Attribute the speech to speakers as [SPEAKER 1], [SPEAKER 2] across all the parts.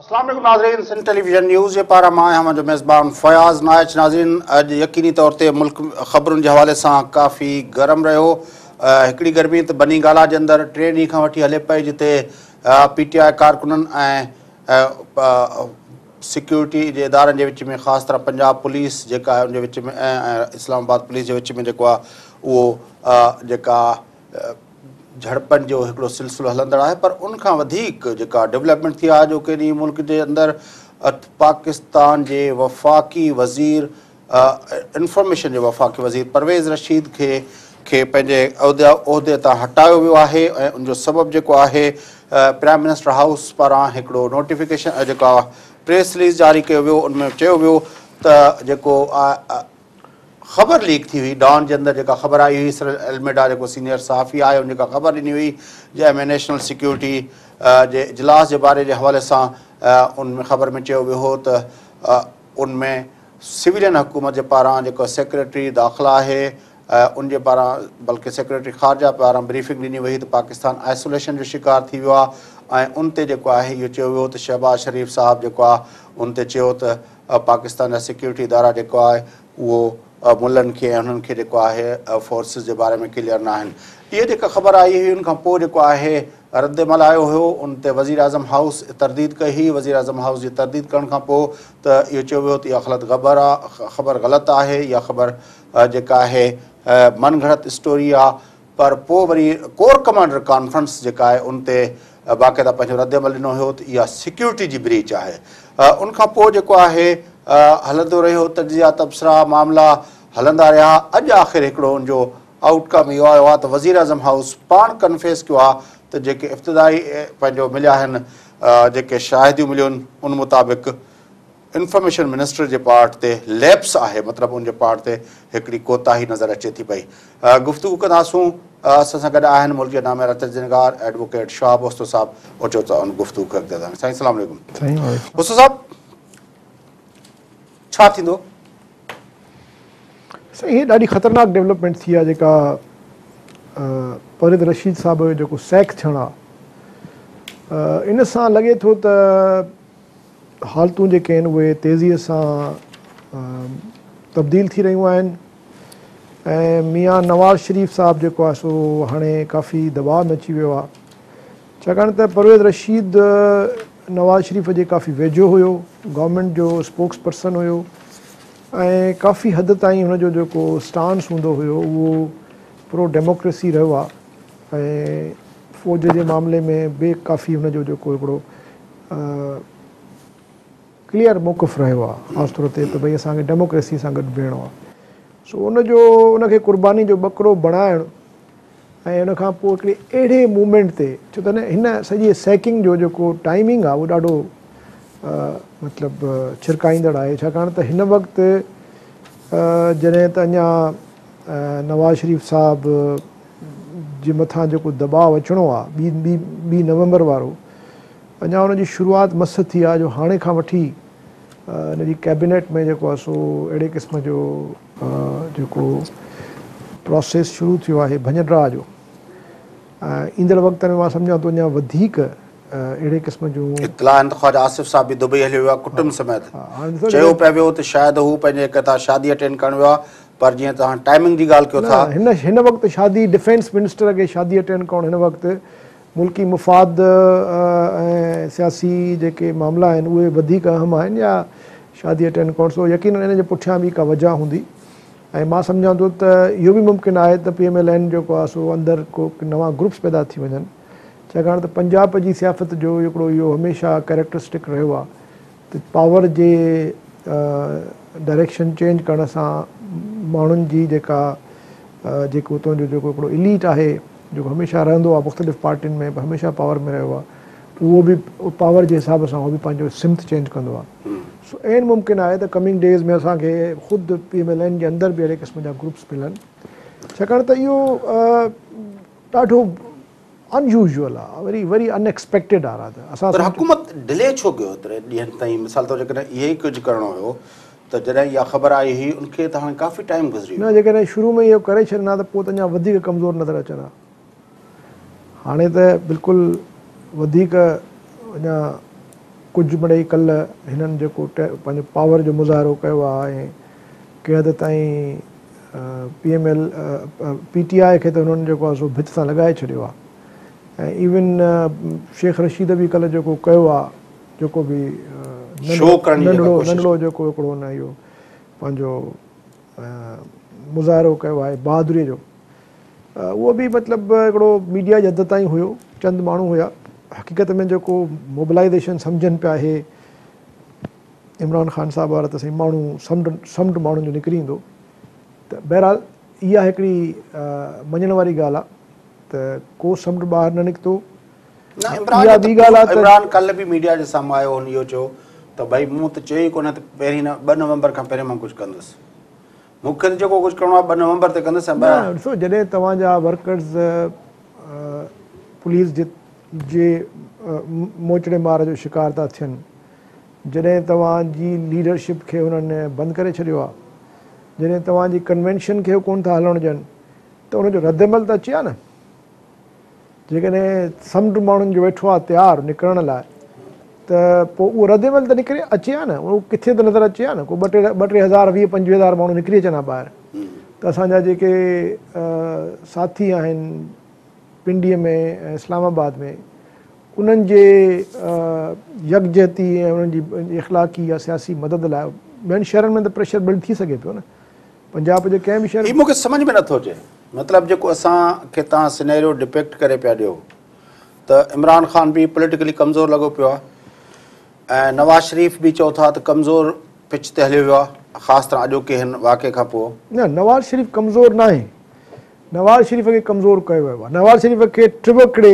[SPEAKER 1] السلام عليڪم ناظرين سنڌ ٽيلي ويزن نيوز جي پارا مان آهيان جو ميزبان فياض نائچ ناظرين اڄ يقيني طور تي ملڪ خبرن جي حوالي سان ڪافي گرم رهيو هڪڙي گرمي ته بني گالا جي اندر ٽي ڏينهن کان وٺي هلي پئي جتي پي ٽي آء ڪارڪنن ۽ سيڪيورٽي جي ادارن جي وچ ۾ خاص طرح پنجاب پوليس جيڪا آهي ان جي وچ ۾ ۽ اسلام آباد پوليس جي وچ ۾ جيڪو آهي اهو جيڪا جھڙپن جو هڪڙو سلسلو هلندڙ آهي پر ان کان وڌيڪ جيڪا ڊيولپمينٽ ٿي آهي جو ڪنهن ڏينهن ملڪ جي اندر پاڪستان جي وفاقي وزير انفارميشن جي وفاقي وزير پرويز رشيد کي کي پنهنجي عهدي تان هٽايو ويو آهي ۽ ان جو سبب جيڪو آهي پرائم منسٽر هائوس پاران هڪڙو نوٽيفڪيشن جيڪا پريس رليز جاري ڪيو ويو ان ۾ چيو ويو ته جيڪو خبر ليڪ ٿي هئي ڊان جي اندر جيڪا خبر آئي هئي سرل الميڊا جيڪو سينيئر صحافي آهي ان جيڪا خبر ڏني هئي جنهن ۾ نيشنل سيڪيورٽي جي اجلاس جي باري جي حوالي سان ان ۾ خبر ۾ چيو ويو هو ته ان ۾ سويلين حڪومت جي پاران جيڪو سيڪريٽري داخلا آهي ان جي پاران بلڪه سيڪريٽري خارجه پاران بريفنگ ڏني وئي هئي ته پاڪستان آئسوليشن جو شڪار ٿي ويو آهي ۽ ان تي جيڪو آهي اهو چيو ويو ته شهباز شريف صاحب جيڪو آهي ان تي چيو ته پاڪستان جا سيڪيورٽي ادارا جيڪو آهي اهو او ملن کي ۽ انهن کي جيڪو آهي او فورسز جي باري ۾ ڪليئر ناهن اهي جيڪا خبر آئي هئي ان کان پوء جيڪو آهي رد عمل آيو هيو ان تي وزيراعظم هائوس ترديد ڪئي هئي وزيراعظم هائوس جي ترديد ڪرڻ کان پوء ته اهو چيو ويو ته اها خلط غبر آ خبر غلط آهي اها خبر جيڪا آهي من گھڙت اسٽوري آ پر پوء وري ڪور ڪمانڊر ڪانفرنس جيڪا آهي ان تي باقاعده پنهنجو رد عمل ڏنو هيو ته اها سيڪيورٽي جي بريچ آهي ان کان پوء جيڪو آهي هلندو رهيو تجزيا تبصرا معاملا هلندا رهيا اڄ آخر هڪڙو ان جو آئوٽ ڪم اهو آيو آهي ته وزيراعظم هائوس پاڻ ڪنفيس ڪيو آهي ته جيڪي افتدائي پنهنجو مليا آهن جيڪي شاهديون مليون ان مطابق انفارميشن منسٽر جي پارٽ تي ليپس آهي مطلب ان جي پارٽ تي هڪڙي ڪوتاهي نظر اچي ٿي پئي گفتگو ڪنداسون اسان سان گڏ آهن ملڪ جي ناميارا تجزينگار ايڊووڪيٽ شهاب استو صاحب اچو ته ان گفتگو کي اڳتي وڌائون سائين السلام عليڪم استو صاحب ڇا ٿيندو
[SPEAKER 2] سائين هي ڏاڍي خطرناڪ ڊيولپمنٽ ٿي آهي جيڪا فريد رشيد صاحب جو جيڪو سيڪ ٿيڻ آهي ان سان لڳي ٿو ته حالتون جيڪي آهن اهي تيزيء سان تبديل ٿي رهيون آهن ۽ ميان نواز شريف صاحب جيڪو آهي سو هاڻي ڪافي دٻاء ۾ اچي ويو آهي ڇاڪاڻ ته پرويز رشيد نواز شريف جي ڪافي ويجهو هيو گورنمينٽ جو اسپوڪس پرسن هيو ۽ ڪافي حد تائين هن جو جيڪو اسٽانس هوندو هيو اهو پرو ڊيموڪريسي رهيو آهي ۽ فوج جي معاملي ۾ به ڪافي هن جو جيڪو هڪڙو ڪليئر موقف رهيو آهي خاص طور تي ته ڀئي اسان کي ڊيموڪريسي سان گڏ بيهڻو آهي سو ان جو ان کي قرباني جو ٻڪرو بڻائڻ ۽ ان کان پوء هڪڙي اهڙي موومينٽ تي ڇو ته هن سڄي سيڪنگ جو جيڪو ٽائمنگ آهي اهو ڏاڍو مطلب ڇرڪائيندڙ آهي ڇاڪاڻ ته هن وقت جڏهن ته اڃا نواز شريف صاحب جي مٿان جيڪو دٻاء اچڻو آ ٻي ٻي نومبر وارو اڃا ان جي شروعات مس ٿي آ جو هاڻي کان وٺي ان جي ڪيبينيٽ ۾ جيڪو آ سو اهڙي قسم جو جيڪو پروسيس شروع ٿيو آهي ڀڃ ڊرا جو ايندڙ وقت ۾ مان سمجهان ٿو اڃا وڌيڪ اهڙي قسم جون اطلاع آهن ته خواجه آصف
[SPEAKER 1] صاحب به دبئي هليو ويو آ ڪٽنب سميت چيو پئي ويو ته شايد هو پنهنجي ڪتا شادي اٽينڊ ڪرڻ ويو آ پر جيئن توهان ٽائمنگ جي ڳالهه ڪيو ٿا. نه هن هن وقت شادي
[SPEAKER 2] ڊفينس منسٽر کي شادي اٽينڊ ڪرڻ هن وقت ملڪي مفاد ۽ سياسي جيڪي معاملا آهن اهي وڌيڪ اهم آهن يا شادي اٽينڊ ڪرڻ سو يقينن ان جي پٺيان به ڪا وجهه هوندي ۽ مان سمجهان ٿو ته اهو به ممڪن آهي ته پي ايم ايل اين جيڪو آهي سو اندر ڪو نوان گروپس پيدا ٿي وڃن ڇاڪاڻ ته پنجاب جي سيافت جو هڪڙو اهو هميشه ڪريڪٽرسٽڪ رهيو آهي ته پاور جي ڊائريڪشن چينج ڪرڻ سان ماڻهن جي جيڪا جيڪو اتان جو جيڪو هڪڙو اليٽ آهي جيڪو هميشه رهندو آهي مختلف پارٽين ۾ هميشه پاور ۾ رهيو آهي اهو به پاور جي حساب سان اهو به پنهنجو سمت چينج ڪندو آهي سو عين ممڪن آهي ته ڪمنگ ڊيز ۾ اسان کي خود پي ايم ايل اين جي اندر به اهڙي قسم جا گروپس ملن ڇاڪاڻ ته اهو ڏاڍو Unusual آ وري وري Unexpected آ رات اسان پر حڪومت ڊلي
[SPEAKER 1] ڇو ڪيو ايتري ڏينهن تائين مثال طور جيڪڏهن اهي ئي ڪجهه ڪرڻو هيو ته جڏهن اها خبر آئي هئي ان کي ته هاڻي ڪافي ٽائيم گذري نه ويو آ. جيڪڏهن شروع ۾ ئي اهو
[SPEAKER 2] ڪري ڇڏين ها ته پوء ته اڃا وڌيڪ ڪمزور نظر اچن ها هاڻي ته بلڪل وڌيڪ اڃا ڪجهه مڙئي ڪلهه هنن جيڪو پنهنجو پاور جو مظاهرو ڪيو آ ۽ ڪنهن حد تائين P M L P T I کي ته هنن جيڪو آهي سو ڀت سان لڳائي ڇڏيو آهي ۽ ايون شيخ رشيد به ڪلهه جيڪو ڪيو آهي جيڪو به ننڍڙو ننڍڙو جيڪو هڪڙو هن اهو پنهنجو مظاهرو ڪيو آهي بهادري جو اهو به مطلب هڪڙو ميڊيا جي حد تائين هيو چند ماڻهو هيا حقيقت ۾ جيڪو موبلائيزيشن سمجهن پيا اهي عمران خان صاحب وارا ته سائين ماڻهو سمنڊ سمنڊ ماڻهن جو نڪري ايندو ته بهرحال اها هڪڙي مڃڻ واري ڳالهه آهي ته ڪو سمنڊ ٻاهر نه نڪتو نه عمران اها
[SPEAKER 1] ٻي ڳالهه آهي عمران ڪلهه به ميڊيا جي سامهون آيو هن اهو چيو ته ڀائي مون ته چيو ئي ڪونه ته پهرين ٻه نومبر کان پهرين مان ڪجهه ڪندس مون کي جيڪو ڪجهه ڪرڻو آهي ٻه نومبر تي ڪندس نه ڏسو جڏهن
[SPEAKER 2] توهان جا ورڪرز پوليس جي موچڙي مار جو شڪار ٿا ٿين جڏهن توهان جي ليڊرشپ کي هنن بند ڪري ڇڏيو آ جڏهن توهان جي ڪنوينشن کي ڪون ٿا هلڻ ڏين ته ان جو رد عمل ته اچي آ نه جيڪڏهن سمنڊ ماڻهن جو ويٺو آ تيار نڪرڻ لاء ته پو اهو رد عمل ته نڪري اچي آ نه اهو ڪٿي ته نظر اچي آ نه ڪو ٻه ٽي ٻه ٽي هزار ويهه پنجويهه هزار ماڻهو نڪري اچن آ ٻاهر ته اسان جا جيڪي ساٿي آهن پنڊي ۾ ۽ اسلام آباد ۾ انهن جي يڪجهتي ۽ انهن جي اخلاقي يا سياسي مدد لاء ٻين شهرن ۾ ته پريشر بلڊ ٿي سگهي پيو نه پنجاب جي ڪنهن به شهر هي مون کي سمجهه ۾ نٿو اچي
[SPEAKER 1] مطلب جيڪو اسان کي توهان سينيريو ڊپيڪٽ ڪري پيا ڏيو ته عمران خان به پوليٽيڪلي ڪمزور لڳو پيو آهي ۽ نواز شريف به چئو ٿا ته ڪمزور پچ تي هليو ويو آهي خاص طرح اڄوڪي هن واقعي کان پوء نه نواز شريف
[SPEAKER 2] ڪمزور ناهي نواز شريف کي ڪمزور ڪيو ويو آهي نواز شريف کي ٽوڪڙي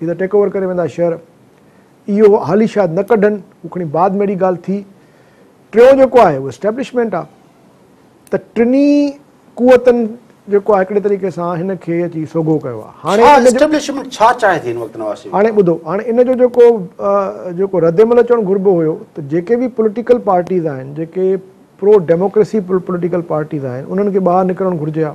[SPEAKER 2] هي ته ٽيڪ اوور ڪري ويندا شهر اهو هالي شايد نه ڪڍن هو کڻي بعد ۾ اهڙي ڳالهه ٿي ٽيون جيڪو آهي اهو اسٽيبلشمينٽ آهي ته ٽنهي قوتن جيڪو آهي هڪڙي طريقي سان هن کي اچي سوگهو ڪيو آهي هاڻي اسٽيبلشمينٽ ڇا چاهي
[SPEAKER 1] ٿي هن وقت نواز شريف هاڻي ٻڌو هاڻي ان جو
[SPEAKER 2] جيڪو جيڪو رد عمل اچڻ گهربو هيو ته جيڪي به پوليٽيڪل پارٽيز آهن جيڪي پرو ڊيموڪريسي پوليٽيڪل پارٽيز آهن انهن کي ٻاهر نڪرڻ گهرجي ها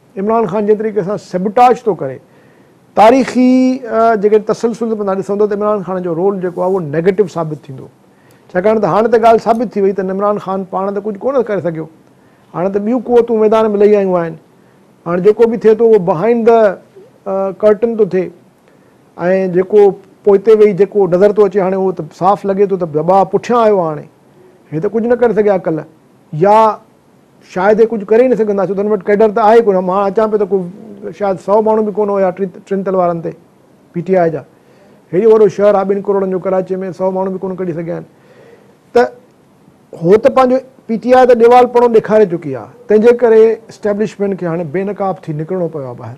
[SPEAKER 2] عمران خان جنهن طريقي سان سيبوٽاج ٿو ڪري تاريخي جيڪڏهن تسلسل تان ڏسندو ته عمران خان جو رول جيڪو آهي اهو نيگيٽو ثابت ٿيندو ڇاڪاڻ ته هاڻي ته ڳالهه ثابت ٿي وئي ته عمران خان پاڻ ته ڪجهه ڪونه ڪري سگهيو هاڻي ته ٻيون قوتون ميدان ۾ لهي آيون آهن هاڻي جيڪو به ٿئي ٿو اهو بهائنڊ ده ڪرٽن ٿو ٿئي ۽ جيڪو پوئتي ويهي جيڪو نظر ٿو اچي هاڻي اهو ته صاف لڳي ٿو ته دٻاء پٺيان آيو آهي هاڻي هي ته ڪجهه نه ڪري سگهيا ڪلهه يا شايد اهي ڪجهه ڪري ئي نه سگهندا ڇو ته هن وٽ ڪيڊر ته آهي ڪونه مان اچان پيو ته ڪو شايد سؤ ماڻهو به ڪونه هيا ٽن تل وارن تي پي ٽي آء جا هيڏو وڏو شهر آهي ٻن ڪروڙن جو ڪراچي ۾ سؤ ماڻهو به ڪونه ڪڍي سگهيا آهن ته هو ته پنهنجو پي ٽي آء ته ڏيوال پڻو ڏيکاري چڪي آهي تنهنجي ڪري اسٽيبلشمينٽ کي هاڻي بي نقاب ٿي نڪرڻو پيو آهي ٻاهر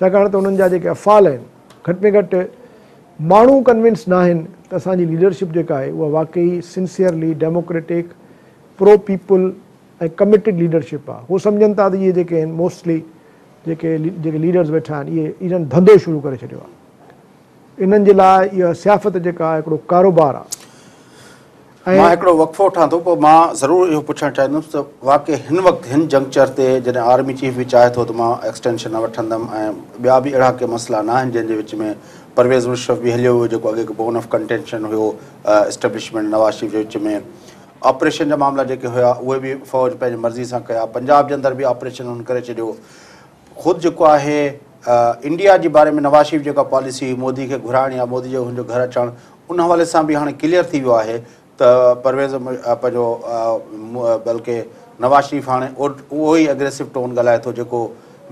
[SPEAKER 2] ڇاڪاڻ ته انهن جا جيڪي افعال آهن گهٽ ۾ گهٽ ماڻهو ڪنوينس ناهن ته اسان جي ليڊرشپ جيڪا آهي اها واقعي sincerely democratic pro people ۽ committed leadership آهي هو سمجهن ٿا ته اهي جيڪي آهن موسٽلي جيڪي جيڪي ليڊرز ويٺا آهن اهي انهن ڌنڌو شروع ڪري ڇڏيو آهي. انهن جي لاء اها سيافت جيڪا آهي هڪڙو ڪاروبار آهي ۽. مان
[SPEAKER 1] هڪڙو وقفو وٺان ٿو پوء مان ضرور اهو پڇڻ چاهيندس ته واقعي هن وقت هن جنڪچر تي جڏهن آرمي چيف به چاهي ٿو ته مان ايڪسٽينشن نه وٺندم ۽ ٻيا به اهڙا ڪي مسئلا نه آهن جن جي وچ ۾ پرويز مشرف به هليو ويو جيڪو اڳي هڪ بون آف ڪنٽينشن هيو اسٽيبلشمينٽ نواز شريف جي وچ ۾ آپريشن جا معاملا جيڪي هيا اهي به فوج پنهنجي مرضي سان ڪيا پنجاب جي اندر به آپريشن هن ڪري ڇڏيو خود جيڪو آهي انڊيا جي باري ۾ نواز شريف جيڪا پاليسي هئي مودي کي گهرائڻ يا مودي جو هن جو گهر اچڻ ان حوالي سان به هاڻي ڪليئر ٿي ويو آهي ته پرويز پنهنجو بلڪه نواز شريف هاڻي اهو ئي اگريسو ٽون ڳالهائي ٿو جيڪو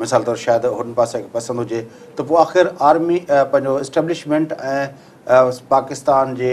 [SPEAKER 1] مثال طور شايد هن پاسي کي پسند هجي ته پوء آخر آرمي پنهنجو اسٽيبلشمينٽ ۽ پاڪستان جي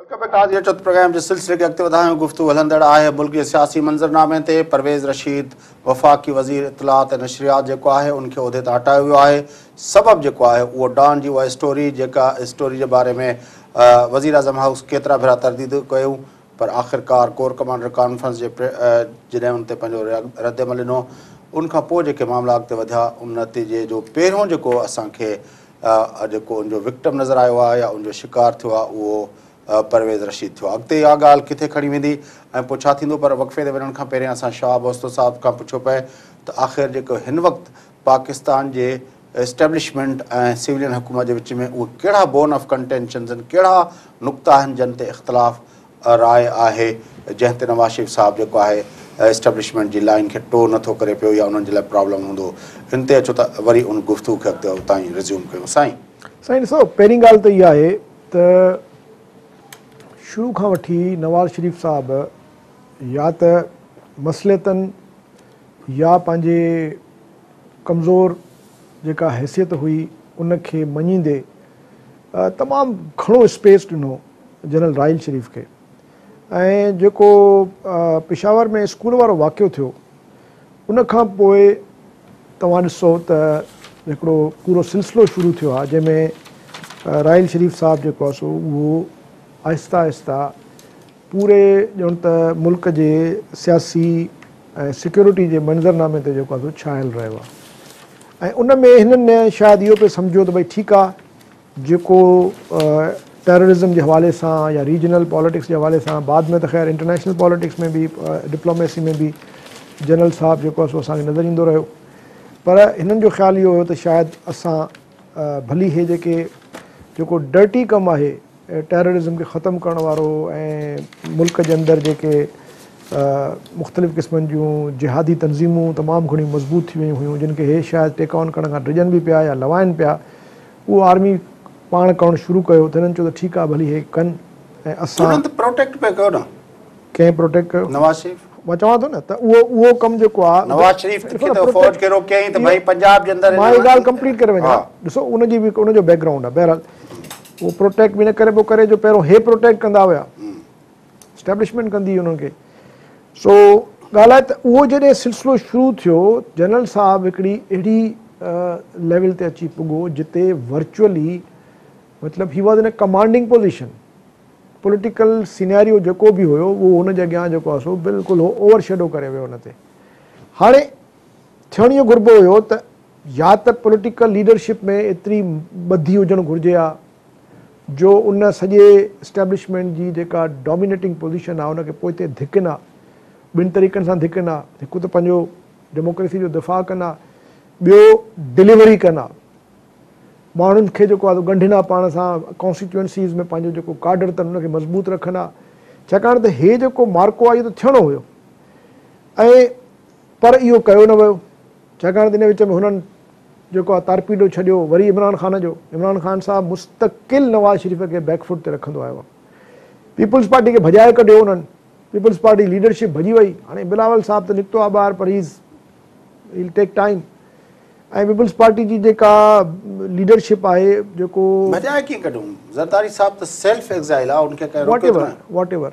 [SPEAKER 1] ويلڪم بيڪ آزيا چوٿ پروگرام جي سلسلي کي اڳتي وڌايون گفتگو هلندڙ آهي ملڪي سياسي منظرنامي تي پرويز رشيد وفاقي وزير اطلاعات ۽ نشريات جيڪو آهي ان کي عهدي تان هٽايو ويو آهي سبب جيڪو آهي اهو ڊان جي اها اسٽوري جيڪا اسٽوري جي باري ۾ وزير اعظم هائوس ڪيترا ڀيرا ترديدون ڪيون پر آخرڪار ڪور ڪمانڊر ڪانفرنس جي جڏهن ان تي پنهنجو رد عمل ڏنو ان کان پوء جيڪي معاملا اڳتي وڌيا ان نتيجي جو پهريون جيڪو اسان کي جيڪو ان جو وڪٽم نظر آيو آهي يا ان جو شڪار ٿيو آهي اهو پرويز رشيد ٿيو آهي. اڳتي اها ڳالهه ڪٿي کڻي ويندي ۽ پوء ڇا ٿيندو پر وقفي تي وڃڻ کان پهريان اسان شهاب اوستو صاحب کان پڇيو پئي ته آخر جيڪو هن وقت پاڪستان جي اسٽيبلشمينٽ ۽ سولين حڪومت جي وچ ۾ اهي ڪهڙا بون آف ڪنٽينشنز آهن، ڪهڙا نقطا آهن جن تي اختلاف راء آهي، جنهن تي نواز شريف صاحب جيڪو آهي اسٽيبلشمينٽ جي لائين کي ٽو نه ٿو ڪري پيو يا انهن جي لاء پرابلم هوندو، ان تي اچو ته وري ان گفتگو کي اڳتي اتان ئي ريزيوم ڪيون. سائين! سائين ڏسو پهرين
[SPEAKER 2] ڳالهه ته اها آهي ته شروع کان وٺي نواز شريف صاحب يا ته مصلحتن، يا پنهنجي ڪمزور جيڪا حيثيت هئي ان کي مڃيندي تمام گهڻو اسپيس ڏنو جنرل راحيل شريف کي ۽ جيڪو پشاور ۾ اسڪول وارو واقعو ٿيو ان کان پوء توهان ڏسو ته هڪڙو پورو سلسلو شروع ٿيو آهي جنهن ۾ راحيل شريف صاحب جيڪو آهي سو اهو آهسته آهسته پوري ڄڻ ته ملڪ جي سياسي ۽ سيڪيورٽي جي منظرنامي تي جيڪو آهي سو ڇانيل رهيو آهي ۽ ان ۾ هنن نه شايد اهو پئي سمجهيو ته ڀئي ٺيڪ آهي جيڪو ٽيررزم جي حوالي سان يا ريجنل پاليٽڪس جي حوالي سان بعد ۾ ته خير انٽرنيشنل پاليٽڪس ۾ به ڊپلوميسي ۾ به جنرل صاحب جيڪو آهي سو اسان کي نظر ايندو رهيو پر هنن جو خيال اهو هيو ته شايد اسان ڀلي هي جيڪي جيڪو ڊرٽي ڪم آهي ٽيررازم کي ختم ڪرڻ وارو ۽ ملڪ جي اندر جيڪي مختلف قسمن جون جهادي تنظيمون تمام گهڻيون مضبوط ٿي ويون هيون جن کي هي شايد ٽيڪ آن ڪرڻ کان ڊڄن به پيا يا لوائن پيا اهو آرمي پاڻ ڪرڻ شروع ڪيو ته هنن چيو ته ٺيڪ آهي ڀلي هي ڪن ۽ اسان پروٽيڪٽ پيا
[SPEAKER 1] ڪيو نه ڪنهن پروٽيڪٽ
[SPEAKER 2] ڪيو نواز شريف مان چوان
[SPEAKER 1] ٿو نه ته
[SPEAKER 2] اهو اهو ڪم جيڪو آهي نواز شريف کي ته
[SPEAKER 1] افورڊ ڪرو ڪيائين ته ڀاء پنجاب جي اندر مان هي ڳالهه ڪمپليٽ ڪري وڃان
[SPEAKER 2] ڏسو ان جي به ان جو بيڪ گرائونڊ آهي بهرحال اهو پروٽيڪٽ به ان ڪري پيو ڪري جو پهريون هي پروٽيڪٽ ڪندا هيا اسٽيبلشمينٽ ڪندي هئي انهن کي سو ڳالهه آهي ته اهو جڏهن سلسلو شروع ٿيو جنرل صاحب هڪڙي اهڙي ليول تي اچي پڳو جتي ورچوئلي مطلب he was in commanding position political scenario جيڪو به هيو اهو هن جي اڳيان جيڪو آسو بلڪل هو اوور شيڊو ڪري ويو هن تي هاڻي ٿيڻ اهو گهربو هيو ته يا ته پوليٽيڪل ليڊرشپ ۾ ايتري ٻڌي هجڻ گهرجي ها جو ان سڄي اسٽيبلشمينٽ جي جيڪا ڊومينيٽنگ پوزيشن آهي ان کي پوئتي ڌڪين ها، ٻن طريقن سان ڌڪين ها، هڪ ته پنهنجو ڊيموڪريسي جو دفاع ڪن ها، ٻيو ڊليوري ڪن ها، ماڻهن کي جيڪو آهي سو ڳنڍين ها پاڻ سان، ڪانسٽيٽيوئنسيز ۾ پنهنجو جيڪو ڪاڊر اٿن ان کي مضبوط رکن ها، ڇاڪاڻ ته هي جيڪو معرڪو آهي اهو ته ٿيڻو هيو ۽ پر اهو ڪيو نه ويو ڇاڪاڻ ته ان وچ ۾ هنن جيڪو آ تارپيڊو ڇڏيو وري عمران خان جو عمران خان صاحب مستقل نواز شريف کي بيڪ فوٽ تي رکندو آيو آ پيپلز پارٽي کي ڀڄائي ڪڍيو انهن پيپلز پارٽي ليڊرشپ ڀڄي وئي هاڻي بلاول صاحب ته نڪتو آ ٻاهر پر he's he'll take time ۽ Peoples Party جي جيڪا ليڊرشپ آهي جيڪو ڀڄائي ڪيئن ڪڍيون
[SPEAKER 1] زرداري صاحب ته سيلف ايگزائيل آ ان کي ڪنهن روڪيو ٿوري واٽ ايور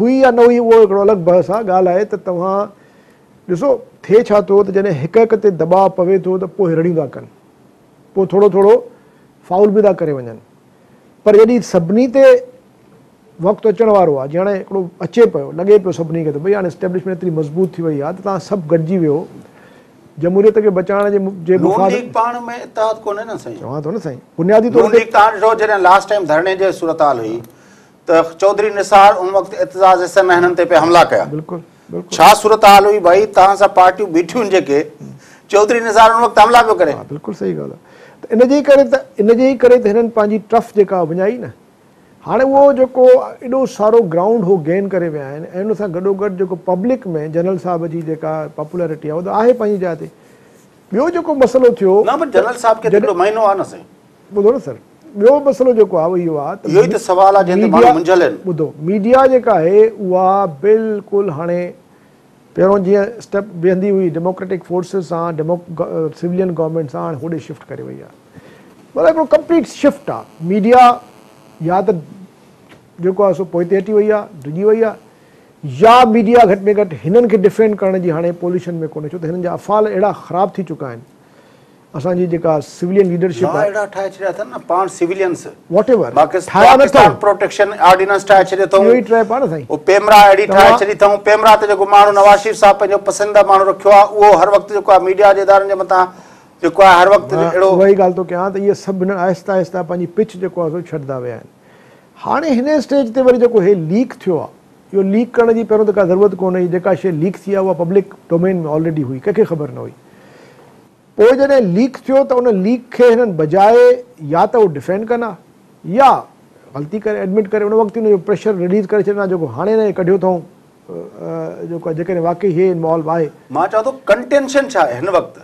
[SPEAKER 1] هئي يا
[SPEAKER 2] نه هئي اهو هڪڙو الڳ بحث آ، ڳالهه آهي ته توهان ڏسو ٿئي ڇا ٿو ته جڏهن هڪ هڪ تي دٻاء پوي ٿو ته پوء رڙيون ٿا ڪن، پوء ٿورو ٿورو فائول به ٿا ڪري وڃن پر جڏهن سڀني تي وقت اچڻ وارو آ، جي هاڻي هڪڙو اچي پيو، لڳي پيو سڀني کي ته ڀئي هاڻي اسٽيبلشمينٽ ايتري مضبوط ٿي وئي آ ته توهان سڀ گڏجي ويهو جمهوريت کي بچائڻ جي مفاد ۾. نون ليگ پاڻ ۾
[SPEAKER 1] اتحاد ڪونهي نه سائين. چوان ٿو نه سائين بنيادي
[SPEAKER 2] طور تي. نون ليگ تان ڏٺو
[SPEAKER 1] جڏهن لاسٽ ٽائيم ڌرڻي جي صورتحال هئي ته چوڌري نثار ان وقت اعتزاز حسين ۽ هنن تي پئي حملا ڪيا بلڪل بلڪل ڇا
[SPEAKER 2] صورتحال هئي ڀائي
[SPEAKER 1] توهان سان پارٽيون بيٺيون جيڪي چوڌري نثار ان وقت حملا پيو ڪري. بلڪل صحيح ڳالهه آهي
[SPEAKER 2] ته ان جي ڪري ته ان جي ئي ڪري ته هنن پنهنجي ٽرف جيڪا وڃائي نه هاڻي اهو جيڪو ايڏو سارو گرائونڊ هو گين ڪري ويا آهن ۽ ان سان گڏو گڏ جيڪو پبلڪ ۾ جنرل صاحب جي جيڪا پاپولرٽي آهي اهو ته آهي پنهنجي جاء تي ٻيو جيڪو مسئلو ٿيو نه پر جنرل صاحب کي ته
[SPEAKER 1] هڪڙو مهينو آهي نه سائين ٻڌو نه سر
[SPEAKER 2] ٻيو مسئلو جيڪو آهي اهو آهي ته اهو ئي ته سوال آهي جنهن تي
[SPEAKER 1] ماڻهو منجهيل آهن. ٻڌو ميڊيا جيڪا
[SPEAKER 2] آهي اها بلڪل هاڻي پهريون جيئن اسٽيپ ويهندي هئي ڊيموڪريٽڪ فورسز سان ڊيمو سولين گورنمينٽ سان هاڻي هوڏي شفٽ ڪري وئي آهي مطلب هڪڙو ڪمپليٽ شفٽ آهي ميڊيا يا ته جيڪو آهي سو پوئتي هٽي وئي آهي ڊڄي وئي آهي يا ميڊيا گهٽ ۾ گهٽ هنن کي ڊفينڊ ڪرڻ جي هاڻي پوليشن ۾ ڪونهي ڇو ته هنن جا افعال اهڙا خراب ٿي چڪا آهن اسان جي جيڪا سولين ليڊرشپ لا اهڙا ٺاهي
[SPEAKER 1] ڇڏيا اٿن نه پاڻ سولينس واٽ
[SPEAKER 2] ايور ٺاهيا نه اٿئون
[SPEAKER 1] پروٽيڪشن آرڊيننس ٺاهي ڇڏيو اٿئون اهو ئي ٽريپ آ نه سائين او
[SPEAKER 2] پيمرا اهڙي ٺاهي
[SPEAKER 1] ڇڏي اٿئون پيمرا تي جيڪو ماڻهو نواز شريف صاحب پنهنجو پسنديده ماڻهو رکيو آ اهو هر وقت جيڪو آ ميڊيا جي ادارن جي مٿان جيڪو آ هر وقت اهڙو اها ئي ڳالهه ٿو ڪيان ته اهي
[SPEAKER 2] سڀ هن آهسته آهسته پنهنجي پچ جيڪو آ سو ڇڏدا ويا آهن هاڻي هن اسٽيج تي وري جيڪو هي ليڪ ٿيو آ اهو ليڪ ڪرڻ جي پهريون ته ڪا ضرورت ڪونه هئي، جيڪا شيء ليڪ ٿي آهي اها پبلڪ ڊومين ۾ آلريڊي هئي، ڪنهن کي خبر نه هئي. پوء جڏهن ليڪ ٿيو ته ان ليڪ کي هنن بجاء يا ته اهو ڊفينڊ ڪن ها يا غلطي ڪري ايڊمٽ ڪري ان وقت ئي ان جو پريشر رليز ڪري ڇڏن ها جيڪو هاڻي انهن کي ڪڍيو اٿئون، جيڪو جيڪڏهن واقعي هي انوالو آهي. مان چوان ٿو ڪنٽينشن
[SPEAKER 1] ڇا آهي هن وقت؟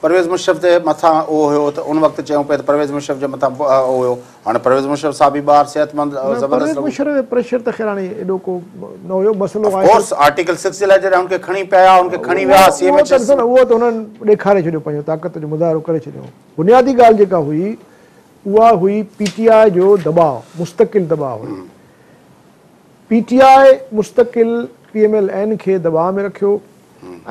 [SPEAKER 1] پرويز مشرف تي مٿان اهو هيو ته ان وقت چيون پئي ته پرويز مشرف جي مٿان اهو هيو هاڻي پرويز مشرف صاحب ئي ٻاهر صحت مند ۽ زبردست پرويز لڳو. مشرف تي پريشر ته
[SPEAKER 2] خير هاڻي ايڏو ڪو نه هيو مسئلو آف آهي ته ڪورس آرٽيڪل سڪس جي لاء
[SPEAKER 1] جڏهن هن کي کڻي پيا آيا هن کي کڻي ويا سي ايم اهو ايڇ ته ايس ڏسو نه اهو ته هنن
[SPEAKER 2] ڏيکاري ڇڏيو پنهنجو طاقت جو مظاهرو ڪري ڇڏيو بنيادي ڳالهه جيڪا هئي اها هئي پي ٽي آء جو دٻاء مستقل دٻاء هئي پي ٽي آء مستقل پي ايم ايل اين کي دٻاء ۾ رکيو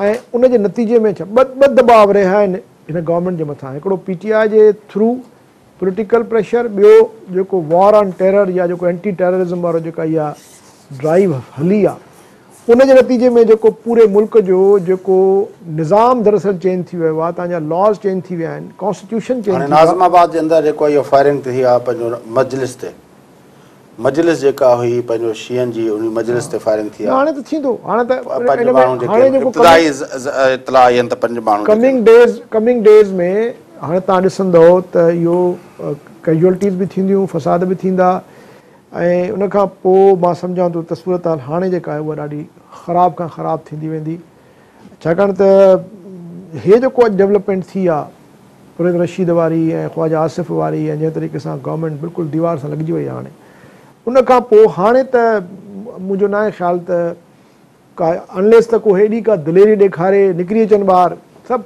[SPEAKER 2] ۽ ان جي نتيجي ۾ ڇا ٻه دٻاء رهيا آهن هن گورنمينٽ جي مٿان هڪڙو پي ٽي آء جي ٿرو پوليٽيڪل پريشر ٻيو جيڪو وار آن ٽيرر يا جيڪو اينٽي ٽيررزم وارو جيڪا اها ڊرائيو هلي آ ان جي نتيجي ۾ جيڪو پوري ملڪ جو جيڪو نظام دراصل چينج ٿي ويو آ تنهن جا لاز چينج ٿي ويا آهن ڪانسٽيٽيوشن چينج ٿي ويو آ. هاڻي ناظم آباد جي اندر جيڪو اهي
[SPEAKER 1] فائرنگ ٿي آ پنهنجو مجلس تي مجلس جيڪا هئي پنهنجو شيعن جي انهي مجلس تي فائرنگ ٿي آهي. پنج
[SPEAKER 2] ماڻهو جيڪي
[SPEAKER 1] ابتدائي اطلاع آئي آهن ته پنج ماڻهو. ڪمنگ
[SPEAKER 2] ڊيز ۾ هاڻي توهان ڏسندؤ ته اهو ڪيجوئلٽيز به ٿينديون فساد به ٿيندا ۽ ان کان پوء مان سمجهان ٿو ته صورتحال هاڻي جيڪا آهي اها ڏاڍي خراب کان خراب ٿيندي ويندي. ڇاڪاڻ ته هي جيڪو اڄ ڊولپمينٽ ٿي آ پرويز رشيد واري ۽ خواجه آصف واري ۽ جنهن طريقي سان گورنمينٽ بلڪل ديوار سان لڳجي وئي آ هاڻي ان کان پو هاڻي ته منهنجو ناهي خيال ته ڪا انليس ته ڪو هيڏي ڪا دليري ڏيکاري نڪري اچن ٻاهر سڀ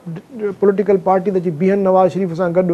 [SPEAKER 2] پوليٽيڪل پارٽي ته اچي بيهن نواز شريف سان گڏ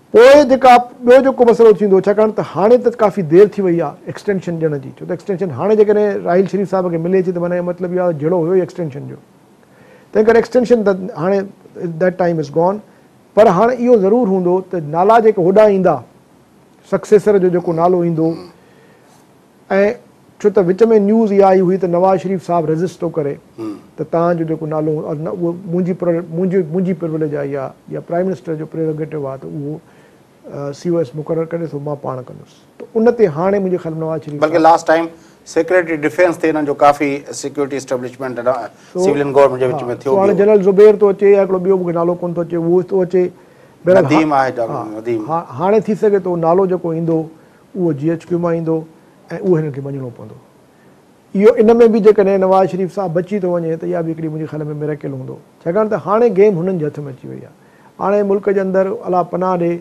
[SPEAKER 2] پوء جيڪا ٻيو جيڪو مسئلو ٿيندو ڇاڪاڻ ته هاڻي ته ڪافي دير ٿي وئي آهي ايڪسٽينشن ڏيڻ جي ڇو ته ايڪسٽينشن هاڻي جيڪڏهن راحيل شريف صاحب کي ملي ٿي ته معنيٰ اهو مطلب اهو آهي ته جهيڙو هيو ئي ايڪسٽينشن جو تنهن ڪري ايڪسٽينشن ته هاڻي That time is gone پر هاڻ اهو ضرور هوندو ته نالا جيڪا هوڏانهن ايندا سڪسيسر جو جيڪو نالو ايندو ۽ ڇو ته وچ ۾ نيوز اها آئي هئي ته نواز شريف صاحب ريزسٽ ٿو ڪري ته توهان جو جيڪو نالو اهو منهنجي منهنجي منهنجي پروليج آهي يا يا پرائم منسٽر جو پريروگيٽو آهي ته اهو سي او ايس مقرر ڪري سو مان پاڻ ڪندس ته ان تي هاڻي منهنجي خيال ۾ نواز شريف صاحب بلڪه لاس ٽائيم
[SPEAKER 1] سيڪريٽري ڊفينس تي انهن جو ڪافي سيڪيورٽي اسٽيبلشمينٽ سولين گورنمينٽ جي وچ ۾ ٿيو هاڻي جنرل زبير ٿو اچي
[SPEAKER 2] يا هڪڙو ٻيو مونکي نالو ڪون ٿو اچي اهو ٿو اچي نديم آهي
[SPEAKER 1] نديم هاڻي ٿي سگهي
[SPEAKER 2] ٿو نالو جيڪو ايندو اهو جي ايڇ ڪيو مان ايندو ۽ اهو هنن کي مڃڻو پوندو. اهو ان ۾ به جيڪڏهن نواز شريف صاحب بچي ٿو وڃي ته اها به هڪڙي منهنجي خيال ۾ ميريڪل هوندو ڇاڪاڻ ته هاڻي گيم هنن جي هٿ ۾ اچي وئي آهي هاڻي ملڪ جي اندر الله پناهه ڏي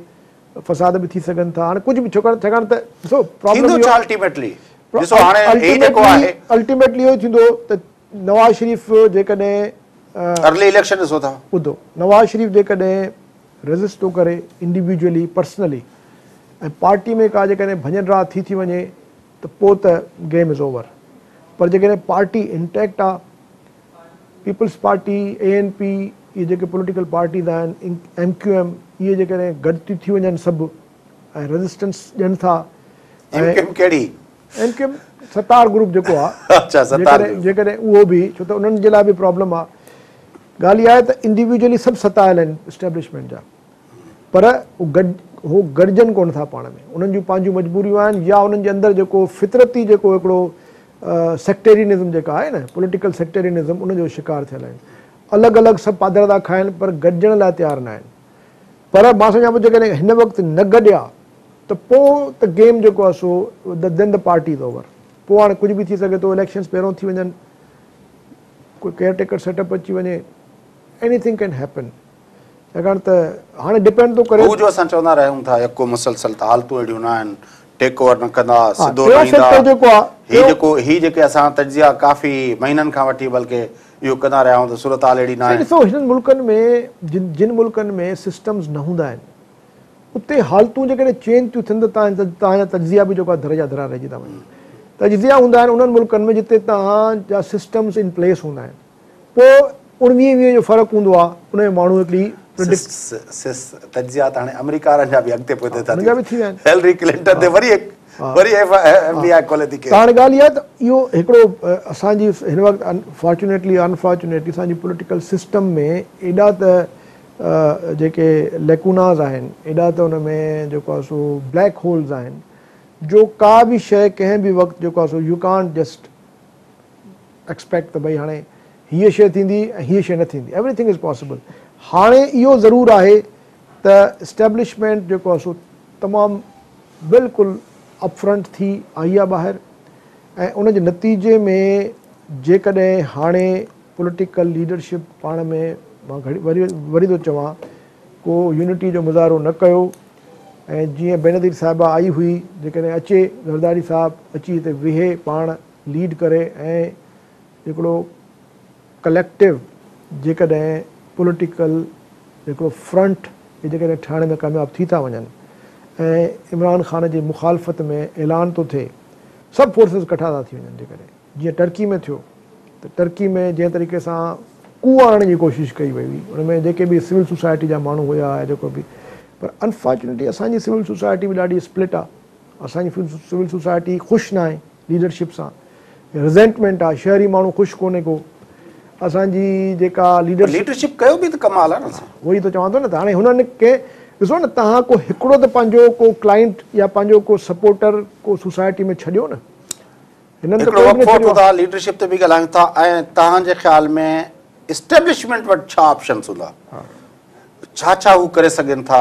[SPEAKER 2] فساد به ٿي سگهن ٿا هاڻي ڪجهه به ڇوڪاڻ ڇاڪاڻ ته ڏسو پرابلم اهو الٽيميٽلي الٽيميٽلي اهو ئي ٿيندو ته نواز شريف جيڪڏهن. ارلي
[SPEAKER 1] اليڪشن ڏسو ٿا. ٻڌو نواز شريف
[SPEAKER 2] جيڪڏهن ريزسٽ ٿو ڪري انڊيويجولي پرسنلي ۽ پارٽي ۾ ڪا جيڪڏهن ڀڃ ڊاهه ٿي ٿي وڃي ته پوء ته گيم از اوور پر جيڪڏهن پارٽي انٽيڪٽ آهي Peoples Party A N P اهي جيڪي پوليٽيڪل پارٽيز آهن ايم ڪيو ايم اهي جيڪڏهن گڏ ٿي ٿي وڃن سڀ ۽ ريزسٽنس ڏين ٿا ايم ڪيو ايم ڪهڙي M Q M Sattar group جيڪو آ اچا ستار گروپ جيڪڏهن اهو به ڇو ته انهن جي لاء به پرابلم آ ڳالهه اها آهي ته انڊيويجولي سڀ ستايل آهن اسٽيبلشمينٽ جا پر هو گڏجن ڪونه ٿا پاڻ ۾ انهن جون پنهنجون مجبوريون آهن يا انهن جي اندر جيڪو فطرتي جيڪو هڪڙو سيڪٽيرينزم جيڪا آهي نه پوليٽيڪل سيڪٽيرينزم ان جو شڪار ٿيل آهن الڳ الڳ سڀ پاڌردا کائن پر گڏجڻ لاء تيار نه آهن پر مان سمجهان پيو جيڪڏهن هن وقت نه گڏيا ته پوء ته گيم جيڪو آهي سو دين دي پارٽي از اوور پوء هاڻي ڪجهه به ٿي سگهي ٿو اليڪشنز پهريون ٿي وڃن ڪوئي ڪيئر ٽيڪر سيٽ اپ اچي وڃي ايني ٿنگ ڪين هيپن ڇاڪاڻ ته هاڻي ڊپينڊ ٿو ڪري هو جو اسان چوندا رهيون ٿا
[SPEAKER 1] يڪو مسلسل ته حالتون اهڙيون نه آهن ٽيڪ اوور نه ڪندا سڌو نه ايندا هي جيڪو هي جيڪو هي جيڪي اسان تجزيا ڪافي مهينن کان وٺي بلڪه اهو ڪندا رهيا آهيون ته صورتحال اهڙي ناهي. سائين ڏسو هنن ملڪن ۾
[SPEAKER 2] جن جن ملڪن ۾ سسٽمز نه هوندا آهن اتي حالتون جيڪڏهن چينج ٿيون ٿين ته تان تان جا تجزيا به جيڪو آهي ڌر جا ڌرا رهجي ٿا وڃن. تجزيا هوندا آهن انهن ملڪن ۾ جتي تان جا سسٽمز ان پليس هوندا آهن پوء اڻويهين ويهين جو فرق هوندو آهي ان ۾ ماڻهو هڪڙي پريڊڪٽ. سس سس
[SPEAKER 1] تجزيا ته هاڻي آمريڪا وارن جا به اڳتي پوئتي ٿا ٿيون هيلري
[SPEAKER 2] ڪلنٽن تي وري
[SPEAKER 1] هڪ. وري ايف ايم بي آء کولي ٿي ڪيس. هاڻي ڳالهه اها ته اهو
[SPEAKER 2] هڪڙو اسان جي هن وقت فارچونيٽلي ان فارچونيٽلي اسان جي پوليٽيڪل سسٽم ۾ ايڏا ته جيڪي ليڪوناز آهن ايڏا ته ان ۾ جيڪو آهي سو بليڪ هولز آهن جو ڪا به شيء ڪنهن به وقت جيڪو آهي so you can't just expect ته ڀئي هاڻي هيء شيء ٿيندي ۽ هيء شيء نه ٿيندي ايوري ٿنگ از پاسيبل هاڻي اهو ضرور آهي ته اسٽيبلشمينٽ جيڪو آهي سو تمام بلڪل اپ فرنٽ ٿي آئي آ ٻاهر ۽ ان جي نتيجي ۾ جيڪڏهن هاڻي پوليٽيڪل ليڊرشپ پاڻ ۾ مان وري ٿو چوان ڪو يونٽي جو مظاهرو نه ڪيو ۽ جيئن بينظير صاحبه آئي هئي جيڪڏهن اچي زرداري صاحب اچي هتي ويهي پاڻ ليڊ ڪري ۽ هڪڙو ڪليڪٽو جيڪڏهن پوليٽيڪل هڪڙو فرنٽ هي جيڪڏهن ٺاهڻ ۾ ڪامياب ٿي ٿا وڃن ۽ عمران خان جي مخالفت ۾ اعلان ٿو ٿئي سڀ فورسز ڪٺا ٿا ٿي وڃن جيڪڏهن جيئن ٽرڪي ۾ ٿيو ته ٽرڪي ۾ جنهن طريقي سان ڪوء آڻڻ جي ڪوشش ڪئي وئي هئي ان ۾ جيڪي به سول سوسائٽي جا ماڻهو هيا يا جيڪو به پر انفارچونيٽلي اسان جي سول سوسائٽي به ڏاڍي اسپلٽ آ اسان جي سول سوسائٽي خوش ناهي. ليڊرشپ سان رزينٽمينٽ آ شهري ماڻهو خوش ڪونهي ڪو اسان جي جيڪا ليڊرشپ ليڊرشپ ڪيو به
[SPEAKER 1] ته ڪمال آ نه سائين. اهو ئي ته چوان ٿو نه ته
[SPEAKER 2] هاڻي هنن ڪي ڏسو نه تهان ڪو هڪڙو ته پنهنجو ڪو ڪلائنٽ يا پنهنجو ڪو سپورٽر ڪو سوسائٽي ۾ ڇڏيو نه هنن ته ڪوئي به نه ڇڏيو آ.
[SPEAKER 1] ليڊرشپ تي به ڳالهايون ٿا ۽ تهان جي خيال ۾ اسٽيبلشمينٽ وٽ ڇا آپشنس هوندا ڇا ڇا هو ڪري سگهن ٿا.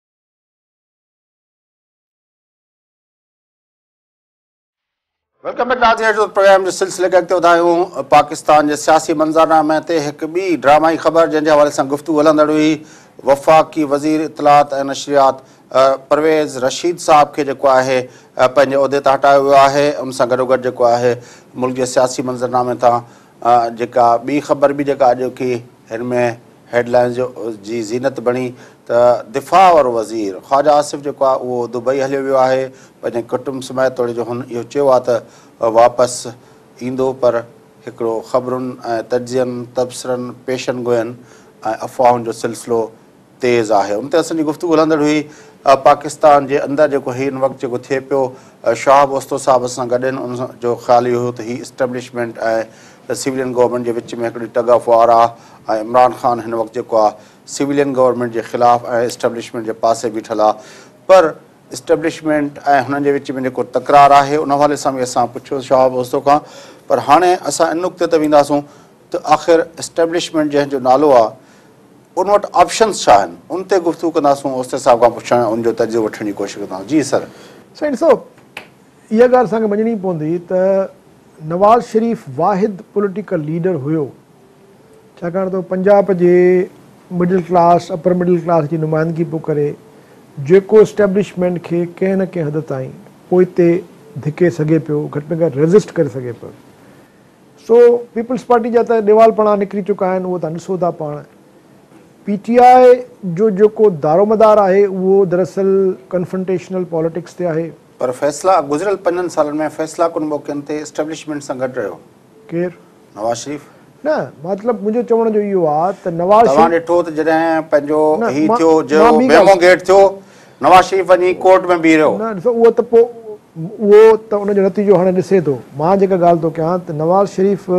[SPEAKER 1] ويلڪم بيڪ ناظرين اچو ته پروگرام جي سلسلي کي اڳتي وڌايون پاڪستان جي سياسي منظرنامي تي هڪ ٻي ڊرامائي خبر جنهن جي حوالي سان گفتگو هلندڙ هئي وفاقي وزير اطلاعات ۽ نشريات پرويز رشيد صاحب کي جيڪو آهي پنهنجي عهدي تان هٽايو ويو آهي ان سان گڏوگڏ جيڪو آهي ملڪ جي سياسي منظرنامي تان جيڪا ٻي خبر به جيڪا اڄوڪي هن ۾ هيڊ لائنز جو جي زينت بڻي ته دفاع وارو وزير خواجه آصف جيڪو آهي اهو دبئي هليو ويو آهي پنهنجي ڪٽنب سميت توڙي جو هن اهو چيو آهي ته واپس ايندو پر هڪڙو خبرن ۽ تجزين تبصرن پيشن گوين ۽ افواهن جو سلسلو تيز آهي ان تي اسان جي گفتگو هلندڙ هئي پاڪستان جي اندر جيڪو هن وقت جيڪو ٿئي پيو شهاب اوستو صاحب اسان گڏ آهن ان جو خيال اهو هيو ته هي اسٽيبلشمينٽ ۽ سويلين گورنمينٽ جي وچ ۾ هڪڙي ٽگ آف وار آهي ۽ عمران خان هن وقت جيڪو آهي سويلين گورنمينٽ جي خلاف ۽ اسٽيبلشمينٽ جي پاسي بيٺل آهي پر اسٽيبلشمينٽ ۽ هنن جي وچ ۾ جيڪو تڪرار آهي ان حوالي سان به اسان پڇيو شهاب اوستو کان پر هاڻي اسان ان نقطي تي وينداسون ته آخر اسٽيبلشمينٽ جنهن جو نالو آ ان وٽ آپشنز ڇا آهن ان تي گفتگو ڪنداسون اوستي صاحب کان پڇڻ ۽ ان جو تجزيو وٺڻ جي ڪوشش ڪنداسون جي سر. سائين ڏسو
[SPEAKER 2] اها ڳالهه اسان کي مڃڻي پوندي ته نواز شريف واحد پوليٽيڪل ليڊر هيو ڇاڪاڻ ته هو پنجاب جي middle class upper middle class جي نمائندگي پيو ڪري جيڪو اسٽيبلشمينٽ کي ڪنهن نه ڪنهن حد تائين پوئتي ڌڪي سگهي پيو گهٽ ۾ گهٽ ريزسٽ ڪري سگهي پيو سو پيپلز پارٽي جا ته ڏيوالپڻا نڪري چڪا آهن اهو تان ڏسو ٿا پاڻ پي ٽي آء جو جيڪو دارومدار آهي اهو دراصل ڪنفرنٽيشنل پاليٽڪس تي آهي. پر فيصلا گذريل
[SPEAKER 1] پنجن سالن ۾ فيصلا ڪن موقعن تي اسٽيبلشمينٽ سان گڏ رهيو. ڪير؟
[SPEAKER 2] نواز شريف.
[SPEAKER 1] نه مطلب
[SPEAKER 2] منهنجو چوڻ جو اهو آ ته نواز شريف. توهان ڏٺو ته جڏهن
[SPEAKER 1] پنهنجو هي ٿيو جو ميمو گيٽ ٿيو نواز شريف وڃي ڪورٽ ۾ بيهي رهيو. نه ڏسو اهو ته پو.
[SPEAKER 2] اهو ته ان جو نتيجو هاڻي ڏسي ٿو. مان جيڪا ڳالهه ٿو ڪيان ته نواز شريف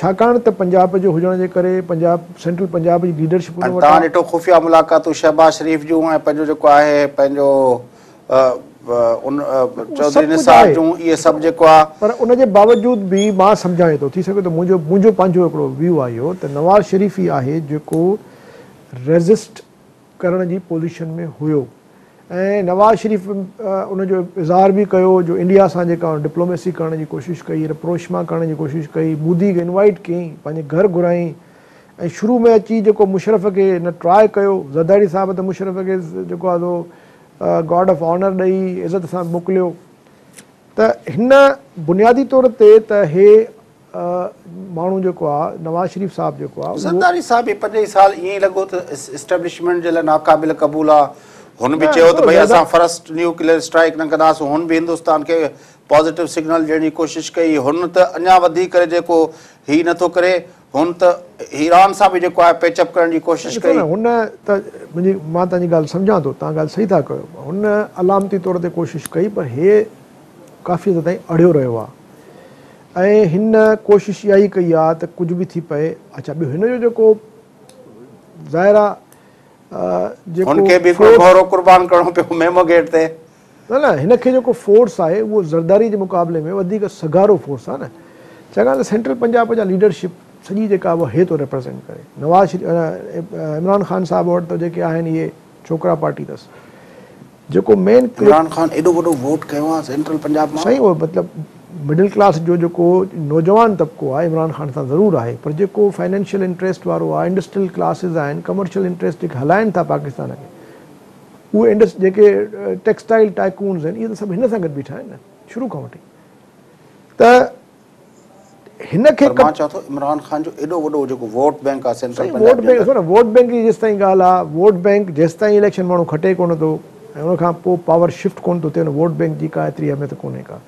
[SPEAKER 2] ڇاڪاڻ ته پنجاب جو هجڻ جي ڪري پنجاب سينٽرل پنجاب جي ليڊرشپ ان وٽ آهي. توهان ڏٺو خفيه
[SPEAKER 1] ملاقاتون شهباز شريف جون ۽ پنهنجو جيڪو آهي پنهنجو چوڌري نثار جون اهي سڀ جيڪو آهي. پر ان جي باوجود
[SPEAKER 2] به مان سمجهانء ٿو ٿي سگهي ٿو منهنجو منهنجو پنهنجو هڪڙو ويو آهي اهو ته نواز شريف ئي آهي جيڪو ريزسٽ ڪرڻ جي پوزيشن ۾ هيو ۽ نواز شريف ان جو اظهار به ڪيو جو انڊيا سان جيڪا ڊپلوميسي ڪرڻ جي ڪوشش ڪئي رپروشما ڪرڻ جي ڪوشش ڪئي مودي کي انوائيٽ ڪيائين پنهنجي گهر گهرايائين ۽ شروع ۾ اچي جيڪو مشرف کي هن ٽرائي ڪيو زرداري صاحب ته مشرف کي جيڪو آهي سو گارڊ آف آنر ڏئي عزت سان موڪليو ته هن بنيادي طور تي ته هي ماڻهو جيڪو آ نواز شريف صاحب جيڪو آ. زرداري صاحب به پنجين
[SPEAKER 1] سال ائين ئي لڳو ته اسٽيبلشمينٽ جي لاء ناقابل قبول آ. هن به چيو ته ڀئي اسان فرسٽ نيوڪليئر اسٽرائيڪ نه ڪنداسون. هن به هندستان کي پازيٽو سگنل ڏيڻ جي ڪوشش ڪئي. هن ته اڃا وڌيڪ ڪري جيڪو هي نه ٿو ڪري. هن ته ايران سان به جيڪو آهي پيچ اپ ڪرڻ جي ڪوشش ڪئي. ڏسو نه هن ته
[SPEAKER 2] منهنجي مان تنهنجي ڳالهه سمجهان ٿو تنهن ڳالهه صحيح ٿا ڪيو. هن علامتي طور تي ڪوشش ڪئي پر هي ڪافي حد تائين اڙهيو رهيو آ. ۽ هن ڪوشش اها ئي ڪئي آ ته ڪجهه به ٿي پئي اڇا ٻيو هن جو جيڪو ظاهر آ
[SPEAKER 1] جيڪو هن کي به هڪڙو گهوڙو قربان ڪرڻو پيو ميمو گيٽ تي. نه نه هن کي
[SPEAKER 2] جيڪو فورس آهي اهو زرداري جي مقابلي ۾ وڌيڪ سگهارو فورس آ نه ڇاڪاڻ ته سينٽرل پنجاب جا ليڊرشپ سڄي جيڪا اهي ٿو ريپريزنٽ ڪري نواز شريف عمران خان صاحب وٽ ته جيڪي آهن اهي ڇوڪرا پارٽي تس جيڪو مين ڪلپ. عمران خان ايڏو وڏو
[SPEAKER 1] ووٽ ڪيو آ سينٽرل پنجاب مان. سائين اهو مطلب
[SPEAKER 2] مڊل ڪلاس جو جيڪو نوجوان طبقو آهي عمران خان سان ضرور آهي پر جيڪو فنانشل انٽريسٽ وارو آهي انڊسٽريل ڪلاسز آهن ڪمرشل انٽريسٽ جيڪي هلائن ٿا پاڪستان کي اهي انڊس جيڪي ٽيڪسٽائل ٽائيڪونز آهن اهي ته سڀ هن سان گڏ بيٺا آهن نه شروع کان وٺي ته هن کي مان چوان ٿو عمران
[SPEAKER 1] خان جو ايڏو وڏو جيڪو ووٽ بينڪ آهي سينٽرل پنجاب جي اندر ووٽ
[SPEAKER 2] بينڪ جي جيستائين ڳالهه آهي ووٽ بينڪ جيستائين اليڪشن ماڻهو کٽي ڪونه ٿو ۽ ان کان پوء پاور شفٽ ڪونه ٿو ٿئي ان ووٽ بينڪ جي ڪا ايتري اهميت ڪونهي ڪا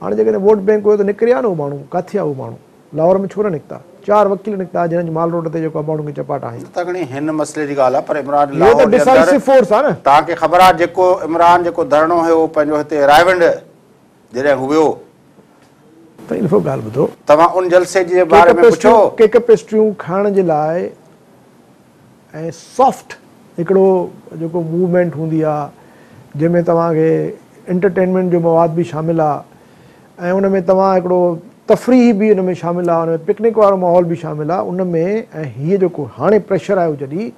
[SPEAKER 2] هاڻي جيڪڏهن ووٽ بينڪ هيو ته نڪري هيا نه هو ماڻهو ڪاٿي هيا هو ماڻهو لاهور ۾ ڇو نه نڪتا چار وڪيل نڪتا جنهن جي مال روڊ تي جيڪو ماڻهو کي چپاٽا هنيا ته گهڻي هن مسئلي
[SPEAKER 1] جي ڳالهه آهي پر عمران لاهور
[SPEAKER 2] جي اندر توهان کي خبر آهي جيڪو
[SPEAKER 1] عمران جيڪو ڌرڻو هيو پنهنجو هتي رائيونڊ جڏهن هو ويو.
[SPEAKER 2] ته هن کان ڳالهه ٻڌو. توهان ان جلسي
[SPEAKER 1] جي باري ۾ پڇو. ڪيڪ پيسٽريون
[SPEAKER 2] کائڻ جي لاء ۽ سافٽ هڪڙو جيڪو موومينٽ هوندي آ جنهن ۾ توهان کي انٽرٽينمينٽ جو مواد به شامل آ ۽ ان ۾ توهان هڪڙو تفريح به ان ۾ شامل آ ان ۾ پڪنڪ وارو ماحول به شامل آ ان ۾ ۽ هيء جيڪو هاڻي پريشر آيو جڏي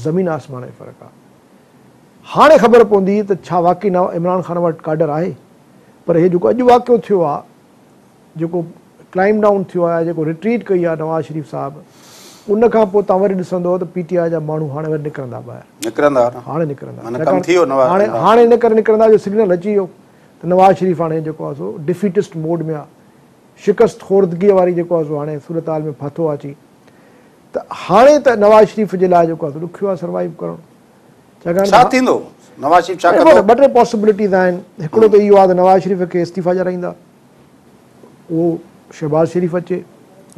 [SPEAKER 2] زمين آسمان جو فرق آ. هاڻي خبر پوندي ته ڇا واقعي نواب عمران خان وٽ ڪاڊر آهي پر هي جيڪو اڄ واقعو ٿيو آهي جيڪو ڪلائم ڊائون ٿيو آهي جيڪو رٽريٽ ڪئي آهي نواز شريف صاحب ان کان پوء تان وري ڏسندو ته پي ٽي آء جا ماڻهو هاڻي وري نڪرندا ٻاهر نڪرندا هاڻي نڪرندا معنيٰ ڪم ٿي ويو نواز هاڻي هاڻي ان ڪري نڪرندا جو سگنل اچي ويو ته نواز شريف هاڻي جيڪو آهي سو ڊفيٽسٽ موڊ ۾ آهي شڪست خوردگيء واري جيڪو آهي سو هاڻي صورتحال ۾ ڦاٿو آهي اچي ته هاڻي ته نواز شريف جي لاء جيڪو آهي ڏکيو آهي سروائيو ڪرڻ ڇاڪاڻ ته ڇا ٿيندو نواز شريف ڇا ڪندو ٻه ٽي پاسبلٽيز آهن هڪڙو ته اهو آهي ته نواز شريف کي استعيفا ڏيارائيندا اهو شهباز شريف اچي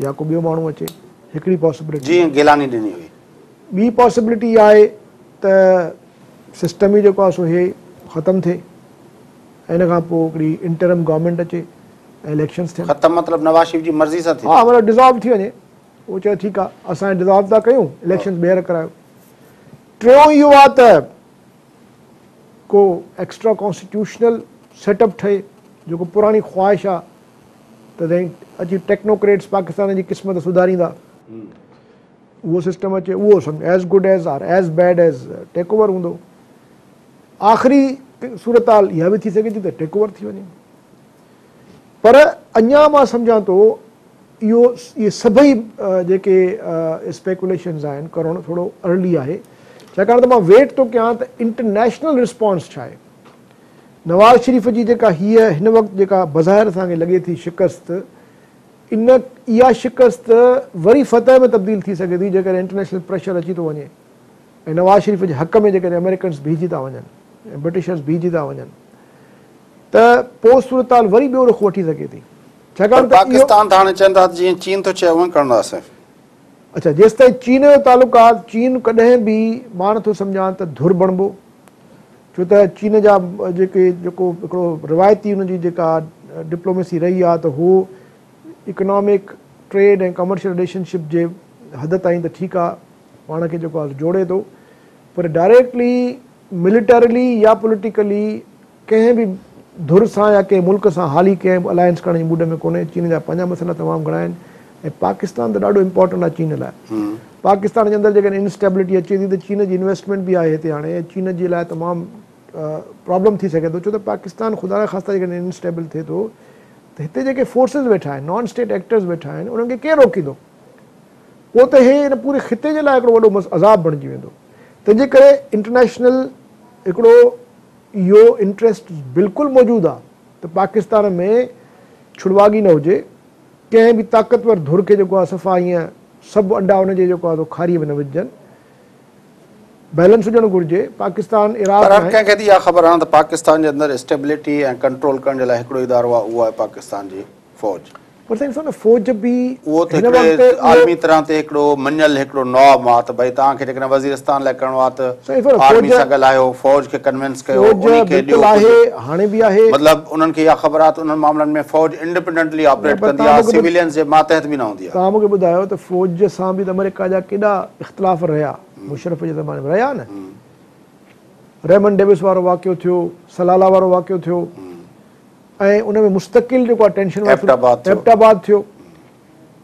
[SPEAKER 2] يا ڪو ٻيو ماڻهو اچي هڪڙي پاسبلٽي جي گيلاني ڏني هئي
[SPEAKER 1] ٻي پاسبلٽي
[SPEAKER 2] آهي ته سسٽم ئي جيڪو آهي سو هي ختم ٿئي ان کان پوء هڪڙي انٽرم گورنمينٽ اچي ۽ اليڪشنز ٿين. ختم مطلب نواز شريف جي
[SPEAKER 1] مرضي سان ٿي. ها مطلب ڊزالو ٿي وڃي.
[SPEAKER 2] هو چوي ٺيڪ آ اسان ڊزالو ٿا ڪيون اليڪشنز ٻيهر ڪرايو. ٽيون اهو آ ته ڪو ايڪسٽرا ڪانسٽيٽيوشنل سيٽ اپ ٺهي جيڪو پراڻي خواهش آ ته سائين اچي ٽيڪنوڪريٽس پاڪستان جي قسمت سڌاريندا اهو سسٽم اچي اهو سمجهه as good as or as bad as take over هوندو. آخري صورتحال اها به ٿي سگهي ٿي ته ٽيڪ اوور ٿي وڃي پر اڃا مان سمجهان ٿو اهو اهي سڀئي جيڪي اسپيڪوليشنز آهن ڪرڻ ٿورو ارلي آهي ڇاڪاڻ ته مان ويٽ ٿو ڪيان ته انٽرنيشنل رسپانس ڇا آهي نواز شريف جي جيڪا هيء هن وقت جيڪا بظاهر اسان کي لڳي ٿي شڪست ان اها شڪست وري فتح ۾ تبديل ٿي سگهي ٿي جيڪڏهن انٽرنيشنل پريشر اچي ٿو وڃي ۽ نواز شريف جي حق ۾ جيڪڏهن آمريڪنس بيهجي ٿا وڃن ۽ برٽشرس بيهجي ٿا وڃن ته پوء صورتحال وري ٻيو رخ وٺي سگهي ٿي ڇاڪاڻ ته اهو پاڪستان ته هاڻي
[SPEAKER 1] چون ٿا ته جيئن چين ٿو چئي اوئن ڪرڻو آهي سائين. اڇا
[SPEAKER 2] جيستائين چين جو تعلق آ چين ڪڏهن به مان نه ٿو سمجهان ته ڌر بڻبو ڇو ته چين جا جيڪي جيڪو هڪڙو روايتي ان جي جيڪا ڊپلوميسي رهي آ ته هو economic trade ۽ commercial relationship جي حد تائين ته ٺيڪ آ پاڻ کي جيڪو آهي جوڙي ٿو پر ڊائريڪٽلي ملٽرلي يا پوليٽيڪلي ڪنهن به ڌر سان يا ڪنهن ملڪ سان حالي ڪنهن به الائنس ڪرڻ جي موڊ ۾ ڪونهي چين جا پنهنجا مسئلا تمام گهڻا آهن ۽ پاڪستان ته ڏاڍو امپورٽنٽ آهي چين لاء پاڪستان جي اندر جيڪڏهن انسٽيبلٽي اچي ٿي ته چين جي انويسٽمينٽ به آهي هتي هاڻي چين جي لاء تمام پرابلم ٿي سگهي ٿو ڇو ته پاڪستان خدا نا خاصا جيڪڏهن انسٽيبل ٿئي ٿو ته هتي جيڪي فورسز ويٺا آهن نان اسٽيٽ ايڪٽرز ويٺا آهن انهن کي ڪير روڪيندو پوء ته هي ان پوري خطي جي لاء هڪڙو وڏو عذاب بڻجي ويندو. تنهن جي ڪري انٽرنيشنل هڪڙو اهو انٽريسٽ بلڪل موجود آ ته پاڪستان ۾ ڇڙواڳي نه هجي، ڪنهن به طاقتور ڌر کي جيڪو آ صفا ائين سڀ انڊا ان جي جيڪو آ سو کاريء ۾ نه وجهجن. بيلنس هجڻ گهرجي. پاڪستان عراق پر هر ناهي. ڪنهن کي ته اها خبر آ نه ته
[SPEAKER 1] پاڪستان جي اندر اسٽيبلٽي ۽ ڪنٽرول ڪرڻ جي لاء هڪڙو ئي ادارو آ اهو آهي پاڪستان جي فوج. پر سائين ڏسو نه
[SPEAKER 2] فوج به اهو ته هڪڙي
[SPEAKER 1] عالمي طرح تي هڪڙو مڃيل هڪڙو نواب مان ته ڀئي توهان کي جيڪڏهن وزيرستان لاء ڪرڻو آهي ته آرمي سان ڳالهايو فوج کي ڪنوينس ڪيو انهي کي ڏيو ڪجهه
[SPEAKER 2] مطلب انهن کي اها خبر
[SPEAKER 1] آهي ته انهن معاملن ۾ فوج انڊپينڊنٽلي آپريٽ ڪندي آهي سويلينز جي ماتحت به نه هوندي آهي. توهان مونکي ٻڌايو ته
[SPEAKER 2] فوج سان به ته آمريڪا جا ڪيڏا اختلاف رهيا مشرف جي زماني ۾ رهيا نه ريمنڊ ڊيوس وارو واقعو ٿيو سلالا وارو واقعو ٿيو. ۽ ان ۾ مستقل جيڪو آهي ٽينشن ايبٽ آباد ٿيو ايبٽ آباد ٿيو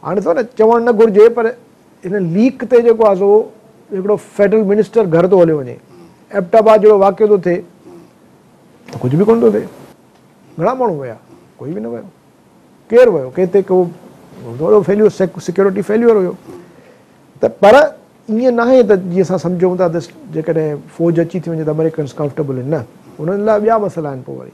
[SPEAKER 2] هاڻي ڏسو نه چوڻ نه گهرجي پر هن ليڪ تي جيڪو آهي سو هڪڙو فيڊرل منسٽر گهر ٿو هليو وڃي ايبٽ آباد جهڙو واقعو ٿو ٿئي ته ڪجهه به ڪونه ٿو ٿئي گهڻا ماڻهو ويا ڪوئي به نه ويو ڪير ويو ڪنهن تي ڪو وڏو فيليور سيڪيورٽي فيليور هيو ته پر ائين ناهي ته جيئن اسان سمجهون ٿا ته جيڪڏهن فوج اچي ٿي وڃي ته امريڪنس ڪمفرٽيبل آهن نه انهن لاء ٻيا مسئلا آهن پوء وري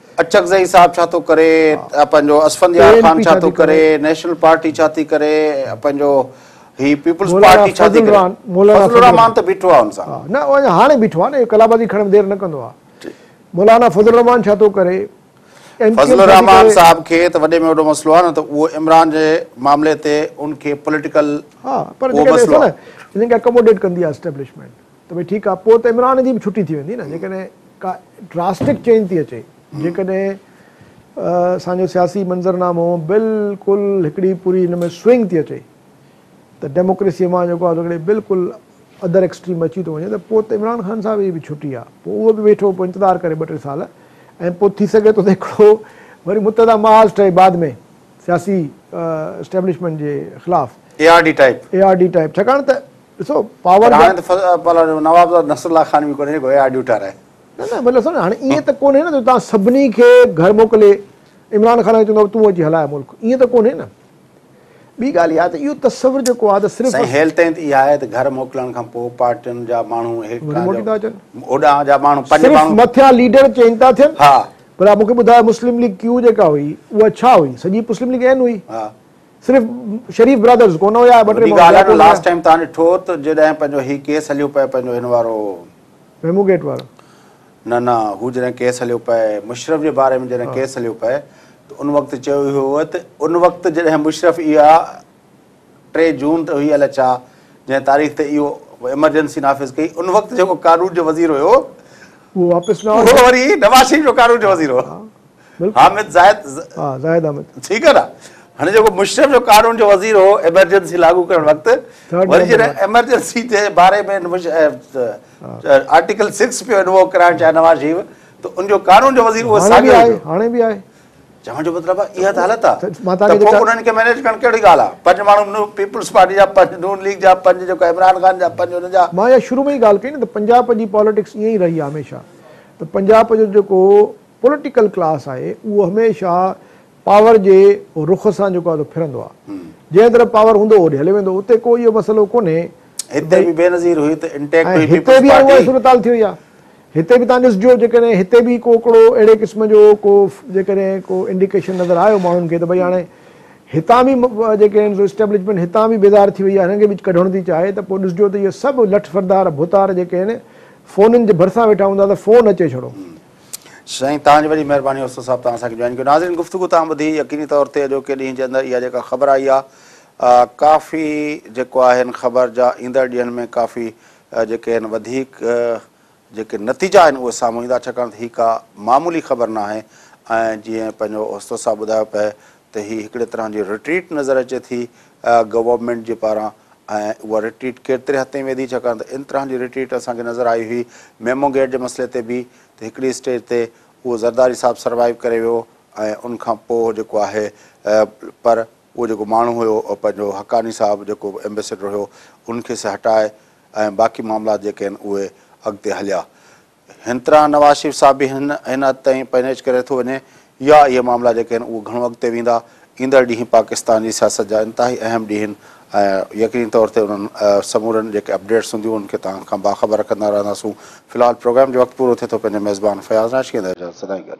[SPEAKER 1] اچڪزئي صاحب ڇا ٿو ڪري، پنهنجو اسفنديار خان ڇا ٿو ڪري، نيشنل پارٽي ڇا ٿي ڪري، پنهنجو هي پيپلز پارٽي ڇا ٿي ڪري، مولانا فضل الرحمان ته بيٺو آهي ان سان. نه اهو اڃا هاڻي بيٺو
[SPEAKER 2] آهي نه، اهو قلابازي کڻڻ ۾ دير نه ڪندو آهي. مولانا فضل الرحمان ڇا ٿو ڪري، ايم ڪيو ايم ڇا ٿي ڪري. فضل
[SPEAKER 1] الرحمان صاحب کي ته وڏي ۾ وڏو مسئلو آهي نه ته اهو عمران جي معاملي تي ان کي پوليٽيڪل اهو
[SPEAKER 2] مسئلو آهي. هن کي اڪاموڊيٽ ڪندي آهي اسٽيبلشمينٽ. ته ڀئي ٺيڪ آ پوء ته عمران جي به ڇٽي ٿي ويندي نه جيڪڏهن ڪا ڊراسٽڪ چينج ٿي اچي جيڪڏهن اسان جو سياسي منظر نامو بلڪل هڪڙي پوري ان ۾ سوئنگ ٿي اچي ته ڊيموڪريسي مان جيڪو آهي هڪڙي بلڪل ادر ايڪسٽريم اچي ٿو وڃي ته پوء ته عمران خان صاحب جي به ڇٽي آ پوء اهو به ويٺو پوء انتظار ڪري ٻه ٽي سال ۽ پوء ٿي سگهي ٿو ته هڪڙو وري متحده محاذ ٺهي بعد ۾ سياسي اسٽيبلشمينٽ جي خلاف A R D type A
[SPEAKER 1] R D type ڇاڪاڻ ته
[SPEAKER 2] ڏسو پاور هاڻي ته پر
[SPEAKER 1] نوابزاد نصر الله خان به ڪونهي جيڪو اي آر ڊيون ٺاهرائي نه نه مطلب سمجھ
[SPEAKER 2] هاڻي ائين ته ڪونهي نه جو تان سڀني کي گهر موڪلي عمران خان کي چوندو تون اچي هلاء ملڪ ائين ته ڪونهي نه ٻي ڳالهه اها ته اهو تصور جيڪو آهي ته صرف سائين هيل تائين ته اها آهي ته
[SPEAKER 1] گهر موڪلڻ کان پوء پارٽين جا ماڻهو هيڪ موٽي ٿا اچن
[SPEAKER 2] اوڏانهن جا ماڻهو پنج
[SPEAKER 1] ماڻهو مٿيان ليڊر
[SPEAKER 2] چينج ٿا ٿين ها پر مونکي
[SPEAKER 1] ٻڌايو
[SPEAKER 2] مسلم ليگ ڪيو جيڪا هئي اها ڇا هئي سڄي مسلم ليگ اين هئي ها صرف شريف برادرز ڪونه هيا ٻه ٽي ماڻهو ٻيا ڪونه هيا. لاسٽ ٽائيم توهان ڏٺو
[SPEAKER 1] ته جڏهن پنهنجو هي ڪيس هليو پئي پنهنجو هن وارو. ميمو گيٽ
[SPEAKER 2] وارو. نه نه
[SPEAKER 1] هو جڏهن ڪيس هليو پئي مشرف جي باري ۾ جڏهن ڪيس هليو پئي ته ان وقت چيو ويو هو ته ان وقت جڏهن مشرف اها ٽي جون ته هئي الاء ڇا جنهن تاريخ تي اهو ايمرجنسي نافذ ڪئي ان وقت جيڪو قانون جو وزير هيو اهو واپس
[SPEAKER 2] نه آيو اهو وري نواز شريف
[SPEAKER 1] جو قانون جو وزير هو. حامد زاهد زاهد احمد ٺيڪ آ نا هن جيڪو مشرف جو قانون جو وزير هو ايمرجنسي لاڳو ڪرڻ وقت وري جي ايمرجنسي جي باري ۾ آرٽيڪل 6 پيو انوو ڪرائڻ چاهي نواز شريف ته ان جو قانون جو وزير هو ساڳيو آهي هاڻي به آهي
[SPEAKER 2] چوڻ جو مطلب
[SPEAKER 1] آهي اها ته حالت آهي ته پوء انهن کي مينيج ڪرڻ ڪهڙي ڳالهه آهي پنج ماڻهو پيپلز پارٽي جا پنج نون ليگ جا پنج جيڪو عمران خان جا پنج ان جا مان اها شروع ۾ ئي ڳالهه ڪئي
[SPEAKER 2] نه ته پنجاب جي پاليٽڪس ائين ئي رهي آهي هميشه ته پنجاب جو جيڪو پوليٽيڪل ڪلاس آهي اهو هميشه پاور جي رخ سان جيڪو آهي سو ڦرندو آهي جنهن طرف پاور هوندو هوڏي هليو ويندو اتي ڪو اهو مسئلو ڪونهي هتي به بينظير
[SPEAKER 1] هئي ته انٽيڪٽ هئي پيپلز پارٽي ۽ هتي به اها صورتحال
[SPEAKER 2] ٿي وئي آهي هتي به تهان ڏسجو جيڪڏهن هتي به ڪو ڪڙو اهڙي قسم جو ڪو جيڪڏهن ڪو انڊيڪيشن نظر آيو ماڻهن کي ته ڀئي هاڻي هتان به جيڪي آهن سو اسٽيبلشمينٽ هتان به بيزار ٿي وئي آهي هنن کي به ڪڍڻ ٿي چاهي ته پوء ڏسجو ته اهي سڀ لٺ فردار ڀوتار جيڪي آهن فونن جي ڀرسان ويٺا هوندا ته فون اچي ڇڙو سائين
[SPEAKER 1] توهان جي وڏي مهرباني استاد صاحب توهان اسان کي جوائن ڪيو ناظرين گفتگو توهان ٻڌي يقيني طور تي اڄوڪي ڏينهن جي اندر اها جيڪا خبر آئي آ ڪافي جيڪو آهي ان خبر جا ايندڙ ڏينهن ۾ ڪافي جيڪي آهن وڌيڪ جيڪي نتيجا آهن اهي سامهون ايندا ڇاڪاڻ ته هي ڪا معمولي خبر ناهي ۽ جيئن پنهنجو استاد صاحب ٻڌايو پئي ته هي هڪڙي طرح جي رٽريٽ نظر اچي ٿي گورنمينٽ جي پاران ۽ اها رٽريٽ ڪيرتري حد تائين ويندي ڇاڪاڻ ته ان طرح جي رٽريٽ اسان کي نظر آئي هئي ميمو گيٽ جي مسئلي تي به ته هڪڙي اسٽيج تي اهو زرداري صاحب سروائيو ڪري ويو ۽ ان کان پوء جيڪو آهي پر اهو جيڪو ماڻهو هيو پنهنجو حقاني صاحب جيڪو ايمبيسيڊر هيو ان کي سي هٽائي ۽ باقي معاملات جيڪي آهن اهي اڳتي هليا هن طرح نواز شريف صاحب به هن هن حد تائين پنهنچ ڪري ٿو وڃي يا اهي معاملا جيڪي آهن اهي گهڻو اڳتي ويندا. ايندڙ ڏينهن پاڪستان جي سياست جا انتهائي اهم ڏينهن آهن ۽ يقيني طور تي انهن سمورن جيڪي اپڊيٽس هونديون انهن کي توهان کان باخبر رکندا رهنداسون. في الحال پروگرام جو وقت پورو ٿئي ٿو پنهنجي ميزبان فياض راشي کي ڏيندي اجازت سدائين گڏ.